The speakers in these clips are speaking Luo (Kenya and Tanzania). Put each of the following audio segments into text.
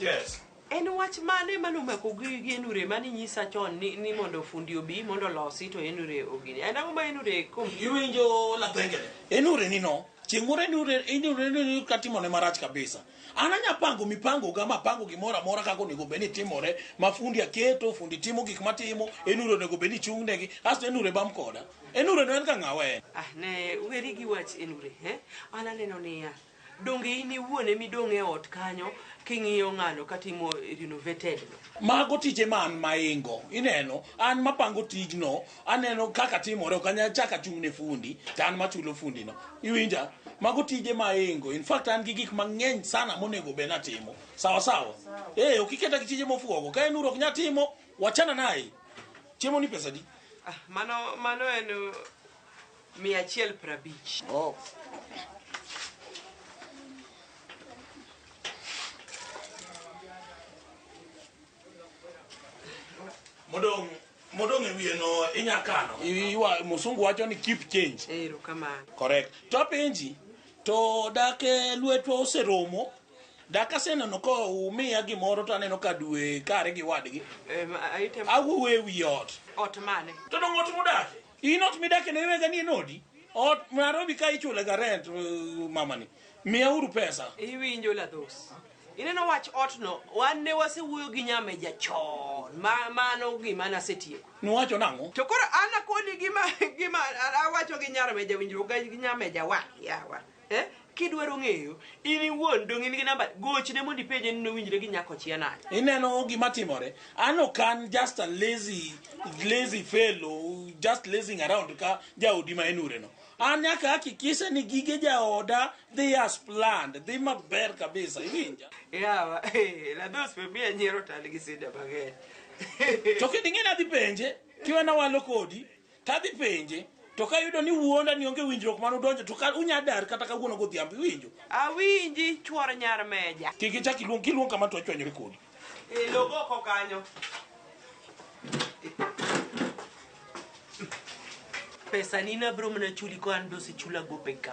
Yes. En wach mane mane omako gi gi enure mane nyisa chon ni, ni mondo fundi obi mondo losi to enure ogini. En ang'o ma enure kom? Iwinjo la pengele. Enure ni no. Chieng' moro enure enure enure katimo ne marach kabisa. An anya pango mipango ga mapango gimoro amora kaka onego bed ni timore, mafundi aketo, fundi timo gik matimo, enure onego bed ni chung'negi, asto enure bam koda. Enure no en ga ng'awa en? Ah, ne weri gi wach Enure, eh? An aneno niya, donge in iwuon emi dong' e ot kanyo king'iyo ng'ano katimo renovated no. Mago tije ma an maingo, ineno, an mapango tijno, aneno kaka timore, ok anyal chaka chung' ne fundi, to an machulo fundi no. Iwinja? Mago tije ma aingo. In fact, an gi gik mang'eny sana monego be natimo. Sawa sawa? Eh, ok iketa gi tije mofuogo. Ka Enure ok nyal timo, wachana naye. Chiemo ni pesa di? Ah, mano mano en uh, mia achiel prabich. Oh. Modong modong e wiye no inya kano. Iwa musungu wacho ni keep change. Ero kamano. Correct. To apenji to dake lwetwa oseromo Dak aseneno ka umiya gimoro to aneno ka dwe kare gi wadgi. Em, aite Awuo e wi ot. ot mane? To dong' ot mudake. In ot midake no iwega ni en odi. Ot Nairobi ka ichule ga rent uh, mamani. Miya uru pesa. Iwinjo ladhos. Ineno wach otno, wan ne wasewuoyo gi nyameja chon. Ma, mano gima nasetieko. Nuwacho nang'o? To koro an akoni gima, gima awacho gi nyarmeja winjruok gi nyameja wa, yawa. Eh? Kidwaro ng'eyo in iwuon dong in gi namba gochne mondo ipenje ni nowinjre gi nyako chia nade. Ineno gima timore. An ok an just a lazy lazy fellow just lazing around ka jaodi ma en ureno. An nyaka hakikisha ni gige jaoda dhi as planned, dhi maber kabisa. Iwinja? Yawa, eh, la dos pe miya nyiero tal gi sida mang'eny. To kendo ing'e ni adhi penje kiwena walo kodi. To adhi penje, to kayudo ni wuonda ni onge winjruok mane udonjo, to ka unya dar kata kawuono godhiambo, iwinjo? Awinji chuor nyar meja. Kik ichak iluong, kiluong kama to achwanyore kodi. E logo oko kanyo. Pesa ni nabiro mana chuli ko an be osechula gope ka.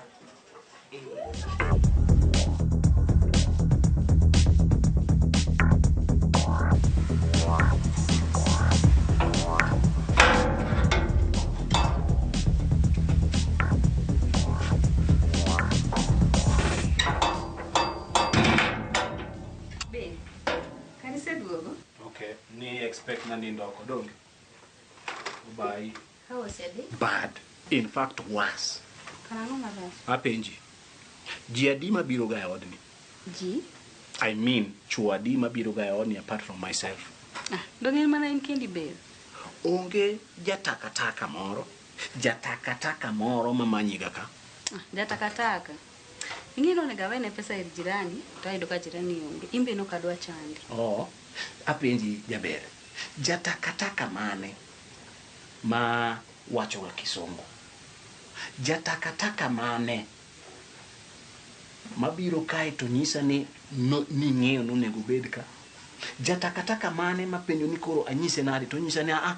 Be, kaniseduogo? Okay, ni expect na nindo oko donge. Bye. Ka osedhi, bad in fact worse karang'o marach? apenji ji adi mabiro ga e odni Ji? i mean chuo adi mabiro ga e odni apart from myself Ah, donge in mana in kendi ber? onge jatakataka moro jatakataka moro mamanyiga ka Ah, Jatakataka. Ing'e ni onego awene pesa ir jirani, to ayudo ka jirani onge. In be nok adwa chandi. oh apenji jaber jatakataka mane ma wachoga kisungu. Ja takataka mane mabiro kae to nyisa ni no- ning'eyo ni onego obed ka? Ja takataka mane mapenjo ni koro anyise nade to onyisa ni aa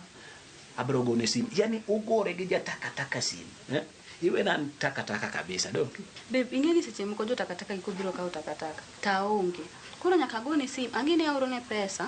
abiro gone simu. Yaani ugore gi ja takataka simu. Eh? Iwena an takataka kabisa dong. Babe, ing'e ni seche moko jo takataka giko biro kawo takataka. To aonge. Koro nyaka agone sim, ang'e ni aorone pesa,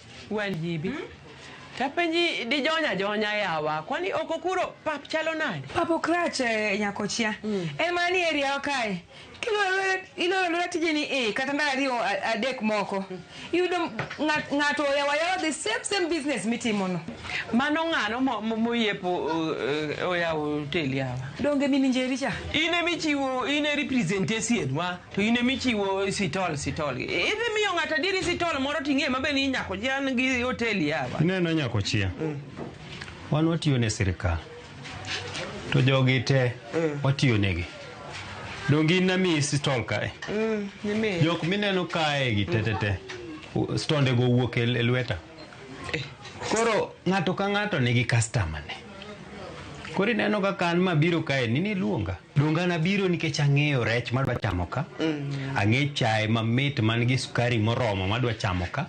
Wan jibi. Hmm? Tapenji dijonya ajonya yawa. Kwani oko kuro pap chalo nade? Pap okrach eh, nyakochia. Mm. En mana ni area okae. Iloro lora tijeni eh, kata ndalo ariyo adek moko. Hmm. Iyudo ng'ato oyawa yawa the same same business mitimono. Mano ng'ano moyepo eh, oyawo hotel yawa. Donge mini njeri cha? In emichiwo, in e representation wa. to in emi chiwo sitol sitol idhi miyo ng'ato adieri sitol moro ting'e mabe ni nyako ji an gi hotel yawa ineno nyako chia wan watiyo ne sirikal to jogi te watiyo negi donge in namiyi sitol kae Mm, nimiyo. jok mineno kae gi tetete stonde go wuok e e lweta koro ng'ato ka ng'ato nigi customer ne koro ineno kaka an mabiro kae ni niluonga Donge an abiro nikech ang'eyo rech madwa chamo ka, ang'e chae mamit man gi sukari moromo madwa chamo ka,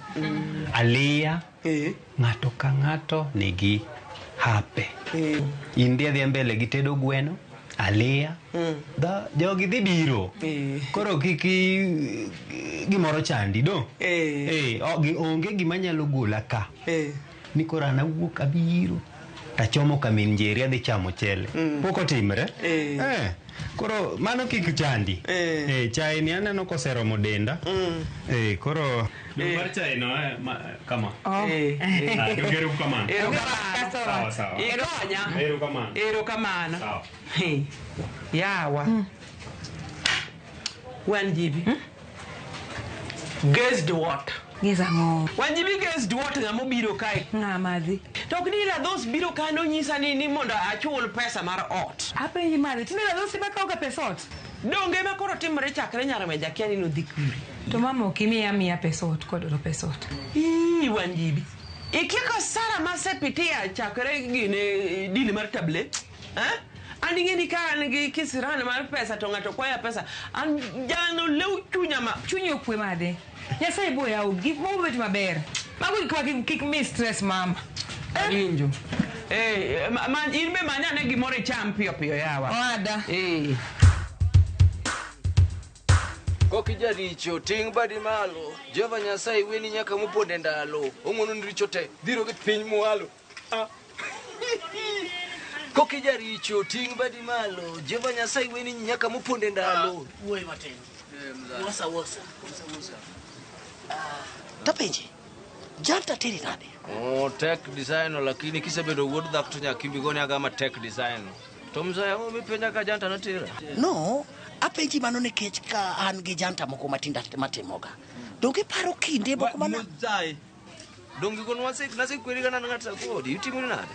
aliya, Eh. ng'ato ka ng'ato nigi hape. Eh. In dhi adhiya mbele gi tedo gweno, aliya, dha- jogi dhi biro. Eh. Koro kik i- gimoro chandi do. Eh. Eh, o- gi- onge gima nyalo gola ka. Eh. ni koro an awuok abiro tachomo ka min njeri adhi chamo chele mm. pok otimre eh. Eh. koro mano kik chandi eh. Eh, chai ni aneno koseromo denda mm. eh, koro eh. mar chai no eh, ma, kama oh. eh. Eh. Ah, ero kamano ero kamano sawa sawa ero kamano ero kamano ero kamano sawa yawa mm. wan jibi mm? Guessed what? Guess ang'o? Wanjibi guessed what ng'ama obiro kae? Ng'a madhi? To ok ni Radhos biro kae nonyisa ni ni mondo achul pesa mar ot. Apenji madhi, tinde Radhos ema kawoga pes ot? Donge ema koro timore chakre nyar weja akia ni nodhi kure. To mama ok imiya miya pes ot kodoro pes ot. Ii Wanjibi. Ikieko sara masepitia chakre gine dili mar tablet. Eh? An ing'eni ka an gi kisiran mar pesa to ng'ato kwaya pesa. An jano lew chunya ma. Chunyi okwe made. Nyasaye bo yaw gik mo bet maber. Mago gik ma kik- kik mi stress mama. Awinjo. Eh, ma, ma, in be manya ane gimoro icham piyo piyo yawa. Owada. Eh. Koki jaricho ting' badi malo Jehova Nyasaye weni nyaka mopond e ndalo Ong'ono ni richo te dhiro gi piny mwalo Koki jaricho ting' badi malo. Jehova Nyasaye weni nyaka moponde ndalo. Wuoyi matin. Wosa wosa. Tapenje. Janta teri nade? Oh, tech design lakini kisebedo wuod dhako to nyaka imbigoni agama tech design. To mzee, oh, mipenja ka janta notira. No, apenji mano nikech ka an gi janta moko matinda matimoga. Donge paro kinde moko mana. Mzee, Donge kono wase nase kweli kana ngata kodi itimo ni nade?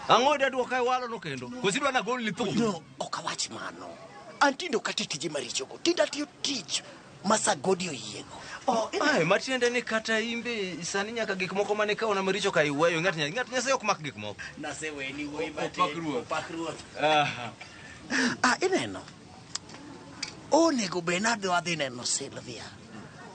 Ang'o da duoka walo no kendo. Kosi dwa na gol ni thumu. No, ok awach mano. Antindo kata tije marichogo. Tinda atiyo tich ma sagodi oyiego. Oh, Ai, matiende ni kata imbe sani nyaka gik moko mane ka ona maricho ka iweyo ng'at nya- ng'at nyasaye ok mak gik moko. Naseweni wuoyi Opak matin. ruoth. Opak ruoth. Ah, ineno. Onego be nadhi wadhi neno Sylvia.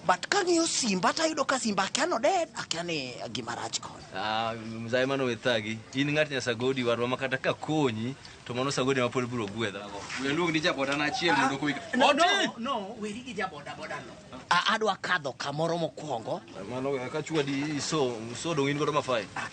But kang'iyo simba to ayudo ka simba akia noded, akia ni gima rach kode. Ah, mzae mano we thagi. In ng'at nya sagodi warwa ma kata ka konyi to mano sagodi ma pod biro gwedha. We luong ni jaboda na achiel mondo koik. No, no, no, weri gi jaboda boda no. A- Adwa kadho kamoro mokwongo. Mano we ka chwadi iso, iso dong in godo mafai.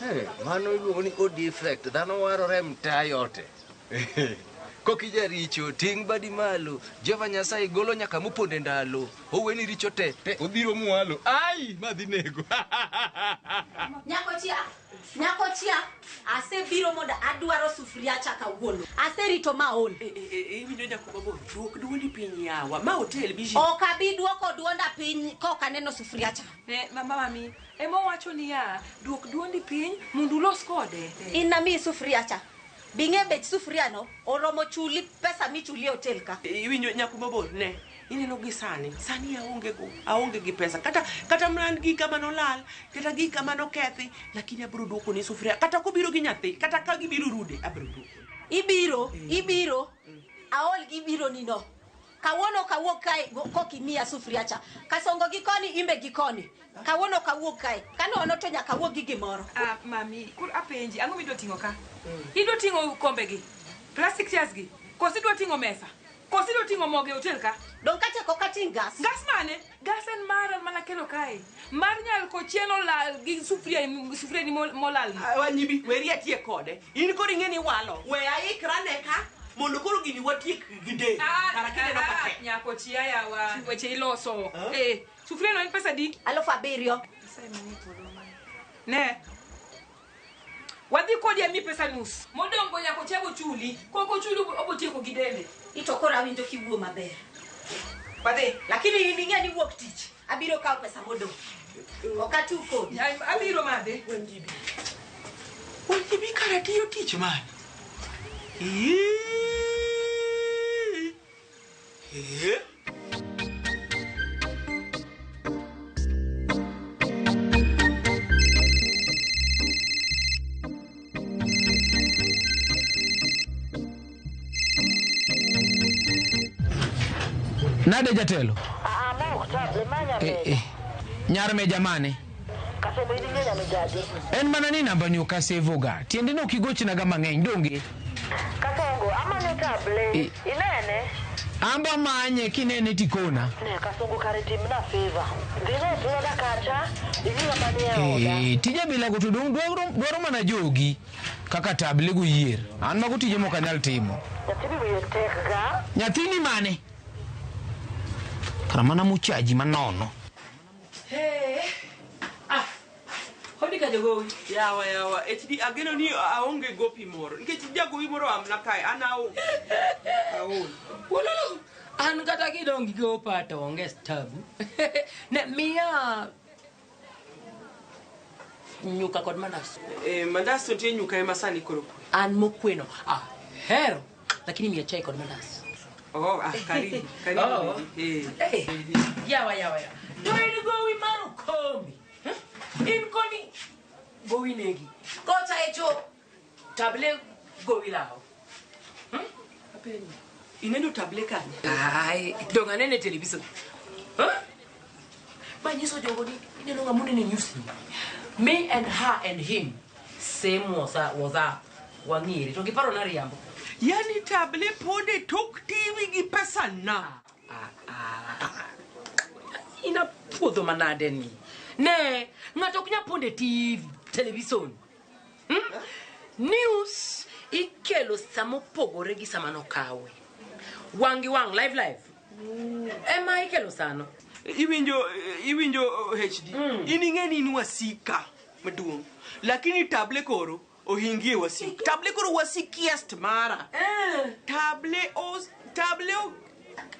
Hey, mano iluongo ni o defect dhano warore mtaa yote kokija richo ting' badi malo jehova nyasaye golo nyaka moponde ndalo oweni richo te te obiro mwalo ai madhi nego nyakochia nyakochia asebiro mondo adwaro sufuria cha kawuono aserito maol eh, eh, eh, iwinjo nyakobago duok duondi piny yawa ma otel biji ok abi duoko duonda piny koka neno sufuria cha mama mami Ema owacho niya, Duok dwondi piny mondo ulos kode. In namiyi sufuria cha. Be ing'eyo bech sufuriano? Oromo chuli pesa michuli e hotel ka. Iwinjo nyako mabor ne. Ineno gi sani, sani aonge go, aonge gi pesa. Kata kata man gika mane olal, kata gika mane okethi, lakini abiro duoko ni sufuria. Kata kobiro gi nyathi, kata ka gibiro rude, abiro duoko. Ibiro, ibiro. Aol gi biro ni no. Kawuono ok awuog kae go- kok imiya sufria cha. Kasongo gi koni imbe gi koni. Kawuono ok awuog kae. Kanono to nyaka awuog gi gimoro. Ah, mami, kur apenji, ang'o midwa ting'o ka? Idwa ting'o kombe gi, plastic chairs gi, koso idwa ting'o mesa, koso idwa ting'o mogo e hotel ka? Donge achako kating' gas? Gas mane? Gas en mara mana kelo kae. Mar nyal ko chien olal gi sufria sufria ni mol- molal. wanyibi weri atie kode in koro ing'e ni walo we aikra ne ka mondo koro gini watiek gide kara kineno ka tek. Nyako chia yawa. Weche iloso. Eh, sufria no en pesa di? Alufu abiriyo. Ne. Wadhi kodi ami pesa nus. Modong' go nyako chego chuli. Kok ochuli obo- obotieko gi dende. Ito koro awinjo kiwuo maber. Wadhi. Lakini in ing'e ni wuok tich. Abiro kawo pesa modong'. Ok atu kodi. Ay, Abiro madhe. Wenjibi. Wenjibi kara tiyo tich mane? Ii. Nade jatelo? Aa, mok ta, lemanya Eh, eh. Nyar meja mane? Kasebo in ing'eya migaji. En mana ni nambani ok asevoga. Tiende ni ok igochnaga mang'eny, donge? Kasongo amanyo table. Eh. Inene? An be amanye kinene tikona. Ne kasongo kare timna favor. Dhi no tuoda kacha. Ini ng'ama ni e oda. Eh, tije bilago to dong- dwaro dwaro mana jogi kaka table goyier. An mago tije mok anyal timo. Nyathini wiye tek ga. Nyathini mane? Kara mana mochaji manono. Hey. Ah. Hodi ka jogowi. Yawa yawa. HD ageno ni aonge gopi moro. Nikech jagowi moro amna kae an aol. Aol. Wololo. An kata kidongi gopa to onge stabu. ne miya nyuka kod mandas. Eh, mandas to tie nyuka ema sani koro. An mokweno. Ah, hero. lakini mia chai kod mandas Oh, ah, karibu, karibu. Oh. Eh. Hey, yawa yawa yawa to in gowi mar okombi eh? in koni gowi negi kocha echo table gowi lawo Ineno table kanye? ai donga nene television manyiso jogo ni ineno ng'ama oneno e news me and her and him same was a- was a wang'ere to giparo na riambo yani table pod e tok tv gi pesa na ina puodho manade ni ne ng'ato ok nyal pondo e tv television hmm? news ikelo sama opogore gi sama nokawe wang' gi wang' live live ema ikelo sano iwinjo iwinjo hd mm. in ing'e ni in wasika maduong' lakini table koro ohingie wasik table koro wasikiest mara eh. table o table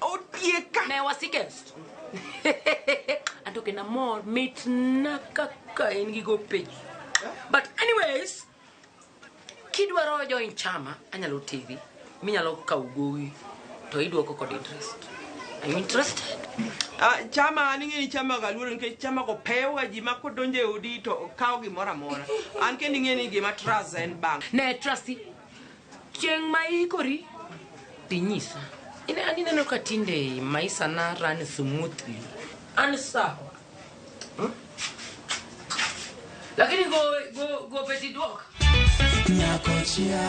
otieka ne wasikest anto kena mor mitna kaka in gi go piny but anyways Kidwaro join chama, anyalo teri minyalo kawo gowi to idwoko kod interest. Are you interested? Ah, chama an ing'e ni chama ga luoro nikech chama go pewoga ji ma kodonjo e odi to kawo gimoro amora an kendo ing'e ni gima trust en bank Ne trust Chieng' ma iikori dhi nyisa. Ine an ineno ka tinde maisa na run smoothly. An sawa. Hmm? Lakini go go go beti duok. Nyakochia.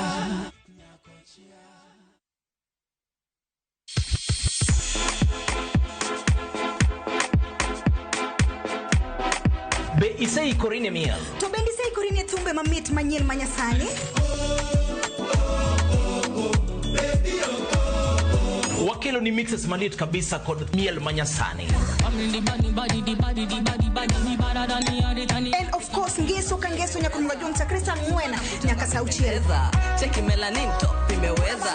Be iseikori ne miel? To bende iseikori ne thumbe mamit manyien ma Nyasani? Wakelo ni mixes malit kabisa kod miel ma Nyasani. And of course, ngeso ka ngeso nyaka mwajonsa Kristo ang'wena nyaka sauchiel. Cheki melanin top imeweza.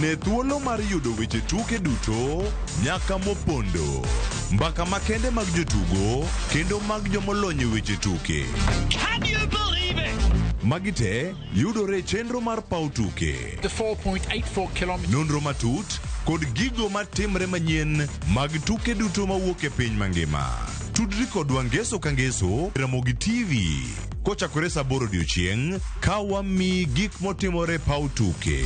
Ne thuolo mar yudo weche tuke duto nyaka mopondo. Mbaka makende mag jotugo kendo mag jomolony e weche tuke. Magi te yudore e chenro mar paw tuke. The 4.84 kilometers. Nonro matut kod gigo matimre manyien mag tuke duto mawuok e piny mangima. Tudri kodwa ngeso ka ngeso e Ramogi TV. Kochakore sa aboro odiechieng' ka wamiyi gik motimore e paw tuke.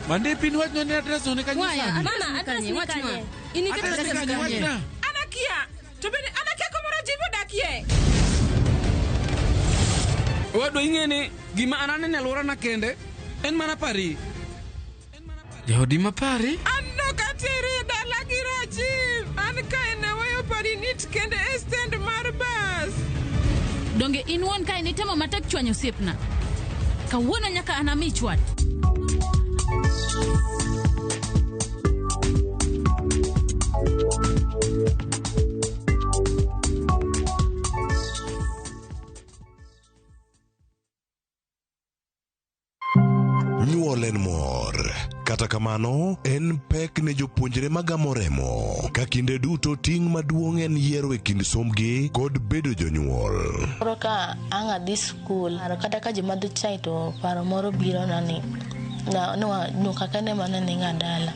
Mande pin wachno ne adres one kanyo Waya, sani. abana, address ni kanye? Ini Address kata ni kanye? Wachna. To bende an akia kumoro jivi odakie. Owadwa ing'e ni gima an anene alworana kende en mana pari. Jaodi ma pari? An nok atiere e dala gi Rajiv. An kae naweyo pari nit kende e stand mar bas. Donge in wuon kae nitemo matek chwanyo osiepna? Kawuono nyaka anami chwat. Nyuol en mor. Kata kamano, en pek ne jopuonjre magamo remo. Ka kinde duto ting' maduong' en yiero e kind sombgi kod bedo jonyuol. Koro ka ang' adhi skul. Kata ka ji madho chai to paro moro biro na ni nyuka kende mane ninga dala.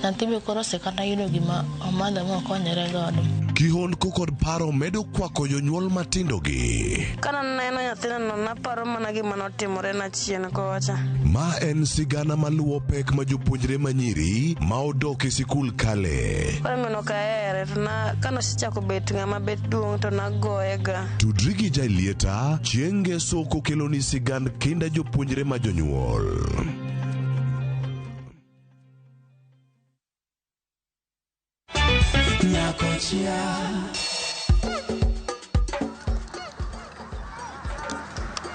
Nyathi be koro osekata yudo gima omadho ma okonyore godo. Kihondko kod paro medo kwako jonyuol matindogi. Kana neno nyathina naparo mana gima notimore na chien kocha. Ma en sigana maluwo pek ma jopuonjre manyiri ma odok e sikul kale. Koro ng'ano kaere to na kanosechako bet ng'ama bet duong' to nagoye ga. Tudri gi Jailieta chieng' Ngeso kokeloni sigand kinda jopuonjre ma jonyuol. Nyakochia.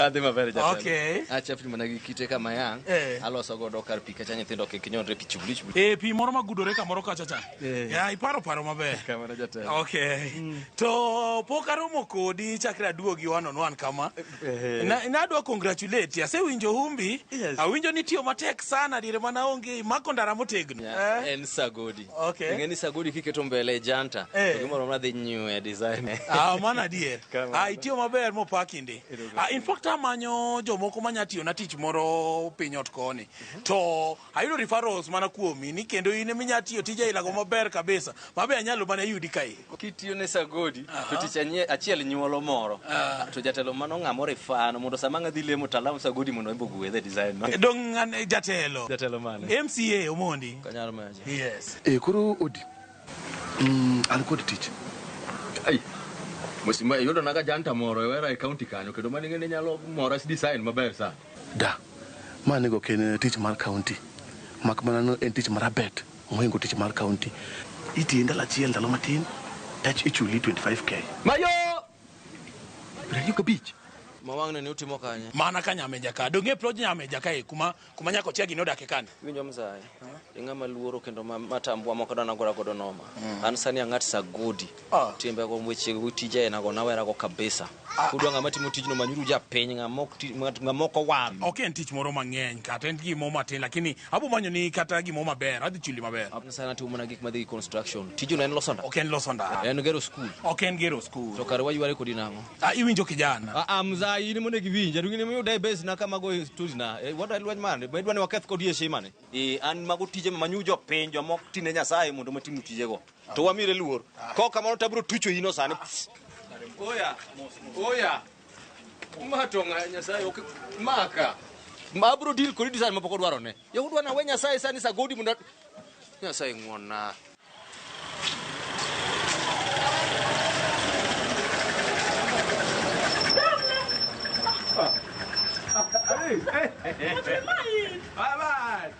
Adhi maber jatelo. Okay. Acha pimo na gi kite kama yang. Eh. Aloso godo kar pi kacha nyithindo kik nyonre pi chubli chubli. E pi moro magudore kamoro kacha cha. Eh. Ya iparo paro maber. Kamano jatelo. Okay. To pok aromo kodi chakre aduogi one on one kama. Eh. Na nadwa congratulate. Asewinjo humbi. Yes. Awinjo ni tiyo matek sana dire mana onge mako ndara motegno. Eh? En sagodi. Okay. Ing'e ni sagodi kiketo mbele janta. Eh. To gimoro amora dhi nyue design. Ah, mano adier. Kamano. Ah, itiyo maber mopaki ndi. Ah, in fact amanyo jomoko manya tiyo na tich moro piny ot koni. To ayudo referrals mana kuomi ni kendo in eminya tiyo tija ilago maber kabisa. Mabe anyalo mana yudi kae. kitiyo ne sagodi to tich anye- achiel nyuolo moro to jatelo mano ng'a moro ifano mondo sama ng'a dhi lemo to alam sagodi mondo embe ogwe the design no Dong' ng'ane jatelo. jatelo mane MCA Omondi. kanyaro maji Yes. Eh, koro odi mm, an kod tich ai mosima iyudo naga janta moro e wera e kaunti kanyo kendo mane ng'ene nyalo mora si design maber sana da ma nego ok en tich mar kaunti mak mana no en tich mar abet Mohingo tich mar county itiye ndalo achiel ndalo matin tach ichuli 25k. Mayo! Piero ka bich. Ma wang'ne ni utimo kanye? Mana ka nyameja ka. Donge ploj nyameja ka e kuma kuma nyako chia gino dake kane. Winjo mzae. Ing'ama luoro kendo ma matambwa moko dana gora godo noma. Mm. An sani ang'at sagodi. Ah. timbe go weche go tije aina go nawera go kabisa kudwa ng'ama timo tijno manyuru japiny ng'ama ok ti- ng'at- ng'ama ok owal ok en tich moro mang'eny kata en gimoro matin lakini abo manyo ni kata gimoro maber adhi chuli maber sana timo mana gik madhi gi construction tijno en loso ndara ok en loso ndara en gero skul ok en gero skul to kare wayware kodi nang'o Ah, iwinjo kijana Ah, mza in mondo giwinja to gini miyuda e base na kama go stories na Eh, what I lweny mane be dwani waketh kodi e shimane eh an mago tije ma manyu jopiny jomok tine nyasaye mondo matinu tijego to wamire luor kaok kamano tabro tucho ino sani oya oya umatonga nyasaye ok maka abro deal kodi design mapok odwaro ne yahudwa na we nyasaye sani sagodi mondo nyasaye ng'wonna Hey, hey, hey, hey. Bye bye.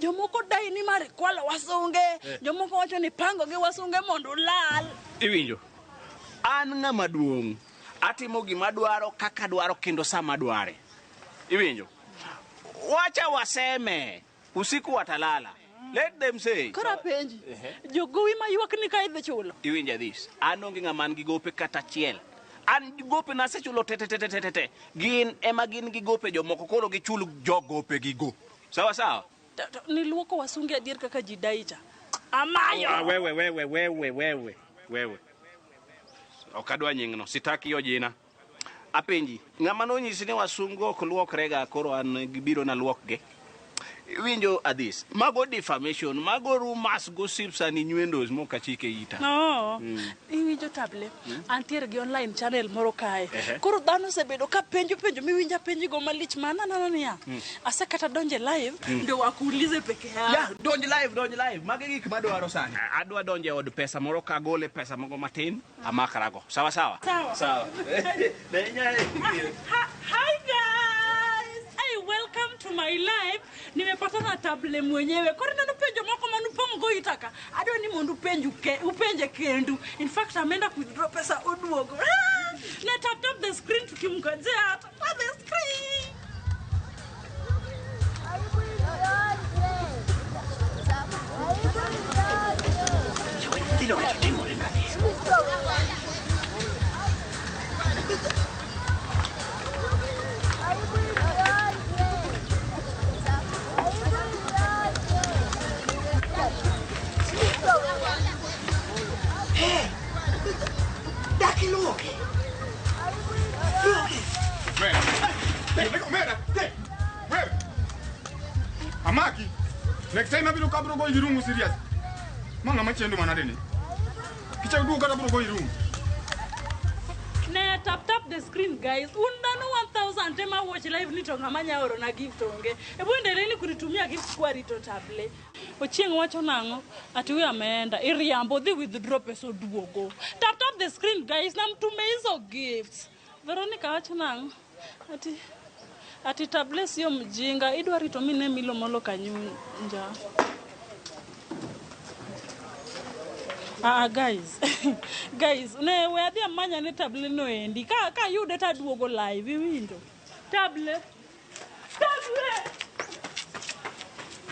Jomoko dai ni mar kwalo wasunge, jomoko wacho ni pango gi wasunge mondo ulal. Iwinjo? An ng'ama duong', atimo gima dwaro kaka dwaro kendo sama dware. Iwinjo? Wacha waseme usiku watalala. Let them say. Koro apenji, jogowi ma ywak ni ka idhi chulo. Iwinja this. An onge ng'ama an gi gope kata achiel. An gope na asechulo te te te te te te. Gin ema gin gi gope jomoko koro gichul jo gope gi go. Sawa sawa. Ta- ta- Niluoko wasunge adier kaka ji daicha. Amayo! Ah, wewe wewe wewe wewe wewe. Ok adwa nyingno, sitaki hiyo jina. Apenji, ng'ama nonyisi ni wasungu ok luokrega koro an gibiro na luokge. Winjo adhis. Mago defamation, mago rumors, gossips and innuendos mokachike ita. No, iwinjo table. Antiere gi online channel moro kae. Koro dhano osebedo ka penjo penjo miwinjo apenjigo malich mana nana niya. Asekata donje live ndio wakuulize peke yao. Yeah, donj live, donj live. Magi gik madwaro sani. Adwa donje od pesa moro kagole pesa moko matin amakarago. Sawa sawa. Sawa. Sawa. Hi guys. Hey, welcome to my live. Nimepatana table mwenyewe. Koro neno penjo moko manu pong' go itaka. Adwa ni mondo upenju ke, upenje kendu. In fact, ameenda kudro pesa oduogo. Ah, Na tap tap the screen tukimngojea. Tap tap the screen. Dilo que te tengo, Renate. Amaki, next time abiruka burugo irungu serious. Manga machendo manadeni. Picha udu kata bro go irum. Ne tap tap the screen guys. Un dhano 1000 tema watch live ni to ng'ama nya oro na gift onge. E bu endelee ni kunitumia gift kwa rito table. Ochieng wacho nang'o? Ati huyo ameenda. Iriambo dhi withdraw pesa oduogo. Tap tap the screen guys na mtume hizo gifts. Veronica wacho nang'o? Ati ati tablets yo mjinga idwa rito mine milo molo kanyunja. Ah, guys guys ne we adhi amanya ne table no endi ka ka yude to aduogo live iwinjo table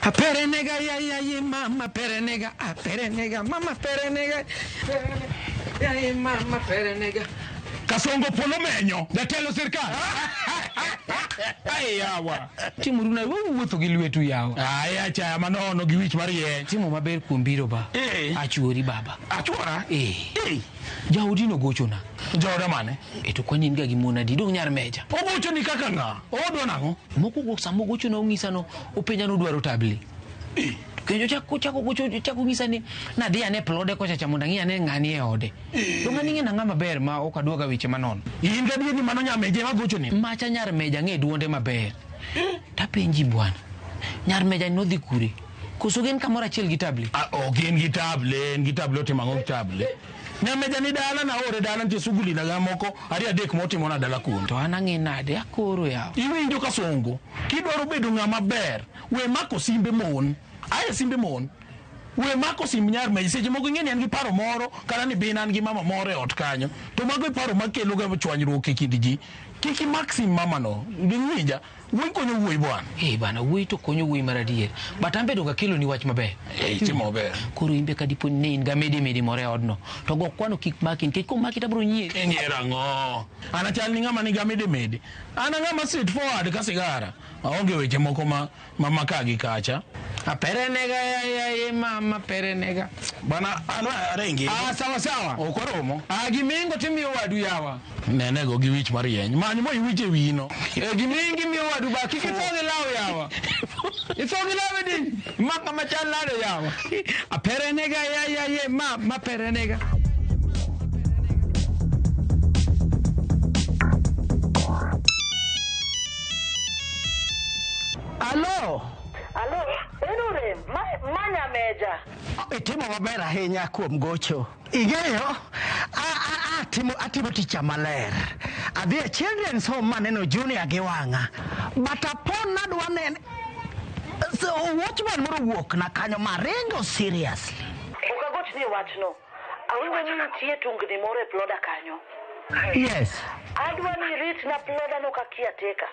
A pere nega ya ya ya mama pere nega a pere nega mama pere nega ya ya mama pere nega Kasongo polo menyo jatelo sirkal. Ai yawa. Timo runa wewe wuotho gi lwetu yawa. Ai acha manono gi wich mar ye. Timo maber kuom biro ba. Eh. Achuori baba. Achuora. Eh. Eh. Jaodi nogochona. Jaoda mane? E to kwani in ga gi mon adi? Dong' nyar meja. Ogochoni kaka ng'a? Owadwa nang'o? Mokwongo sama ogochona ong'isa no openja nodwaro tabli. Kendo chako chako gocho chako ng'isa ni nadhi ane plode kocha cha mondo ang'i ane ng'ani e ode. To ng'ani ng'e nang'a maber ma ok adwoga weche manono. In gadier ni mano nyameje ma gochoni? Macha nyar meja ng'e dwonde maber. Tapenji bwana. Nyar meja nodhi kure? Koso gin kamoro achiel gi table? Ah, ok in gi table, in gi table otimo ang'o gi table? Nyameja ni dala na ore dala nitie suguli na moko ariyo adek motimo na dala kuno. To an ang'e nade akoro yawa. Iwinjo ka songo. Kidwaro bedo ng'ama ber, we mako simbe mon. Aye simbe mon. We mako simb nyar ma seche moko ing'e ni an gi paro moro kata ni bin an gi mama moro e ot kanyo. To mago e paro makelo ga chwanyruok e kind ji. Kik imak sim mama no. Ding'ija. Wuoyi konyo wuoyi bwana. Eh bana wuoyi to konyo wuoyi mar adier. But an bedo ga kelo ni wach maber. Eh itimo maber. Koro imbe ka dipo ni in ga mede mede more odno. To go kwano kik maki nikech ko maki tabro nyie. Nyie rango. Ana chal ni ngama ni ga mede mede. Ana ngama straight forward ka sigara. Aonge weche moko ma ma maka gi kacha. Apere nega ya ya ye mama pere nega. Bana ana arengi. Ah sawa sawa. Okoromo. Ah gimingo timiyo wadu yawa. Nenego gi wich marieny. Many mo iwich e wino. E gimingi mi wadu ba kiki songi law yawa. Isongi law e din. Maka machan lado yawa. Apere nega ya ya ye ma ma pere nega. Alo. Alo, en orem, ma, ma nyameja. Itimo maber ahinya kuom gocho. Ing'eyo, a, a, a, timo, atimo ticha maler. Adhi e children's home maneno junior gi wang'a. But upon nadwa nene, so watchman moro wuok na kanyo maringo seriously. Ok agochni e wachno. Awinjo ni nitie tungni moro e ploda kanyo. Yes. Adwa ni iritna plodano ka kiateka.